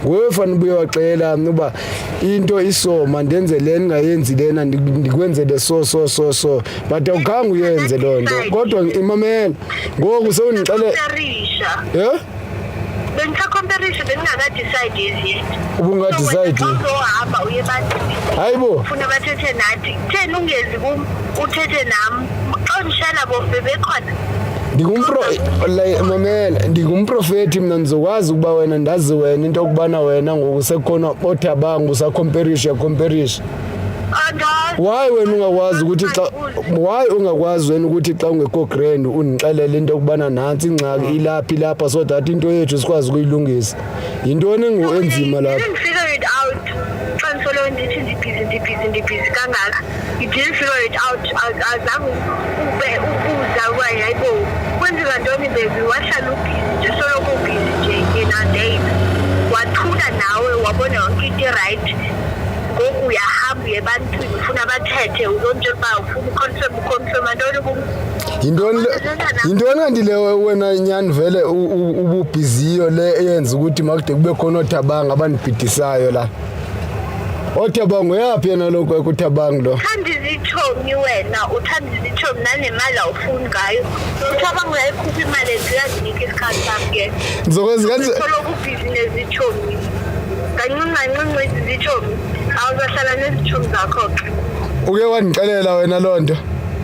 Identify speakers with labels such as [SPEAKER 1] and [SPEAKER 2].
[SPEAKER 1] nguwe fanele ubuye waxela mna uba into isoma ndenze le ndingayenzi lena ndikwenzele so so so so but awukhange uyenze loo nto kodwa imamela ngoku sewundixele yeh
[SPEAKER 2] bengisakhomparisha bengingakadecide as yet ubungadecide
[SPEAKER 1] uzohamba uye
[SPEAKER 2] ebantwini hayi bo funa
[SPEAKER 1] bathethe
[SPEAKER 2] nathi kutheni ungezi kum uthethe nam
[SPEAKER 1] mamela ndingumprofeti mna ndizokwazi ukuba wena ndazi wena into yokubana wena ngoku sekukhona otha bangu usakhomperisha yakhomperishi wayi wena ungakwazi ukuthi xa wayi ungakwazi wena ukuthi xa ungekho grand undixelele into yokubana nantsi ingxaki ilaphi ilapha so that into yethu sikwazi ukuyilungisa yintoni engu enzima lapha
[SPEAKER 2] ndithi ndibhizi ndibhizi ndibhizi kangaka you didn't figure it out azange ube ukuza uba yayibo kwenzeka ntoni bebi wahlala ubhizi nje soloko ubhizi nje yena ndeyina wathula nawe wabona yonke into irayithi ngoku uyahamba uye ebantwini ufuna bathethe uzonje uba ufuna uconfirm uconfirma ntoni kum yintoni yintoni
[SPEAKER 1] kanti le wena nyani vele ububhiziyo le eyenza ukuthi makude kube khona othabanga abanibhidisayo la othabanga uyaphi yena lokhu ekuthabanga lo uthanda izitshomi
[SPEAKER 2] wena uthanda izitshomi nanemali awufuni ngayo uthabanga uyayikhupha imali ethi uyazinika isikhathi sami ke ngizokwenza kanjani
[SPEAKER 1] ubhizi
[SPEAKER 2] nezitshomi kancinci kancinci izitshomi awuzahlala nezitshomi zakho-ke uke
[SPEAKER 1] wandixelela wena loo nto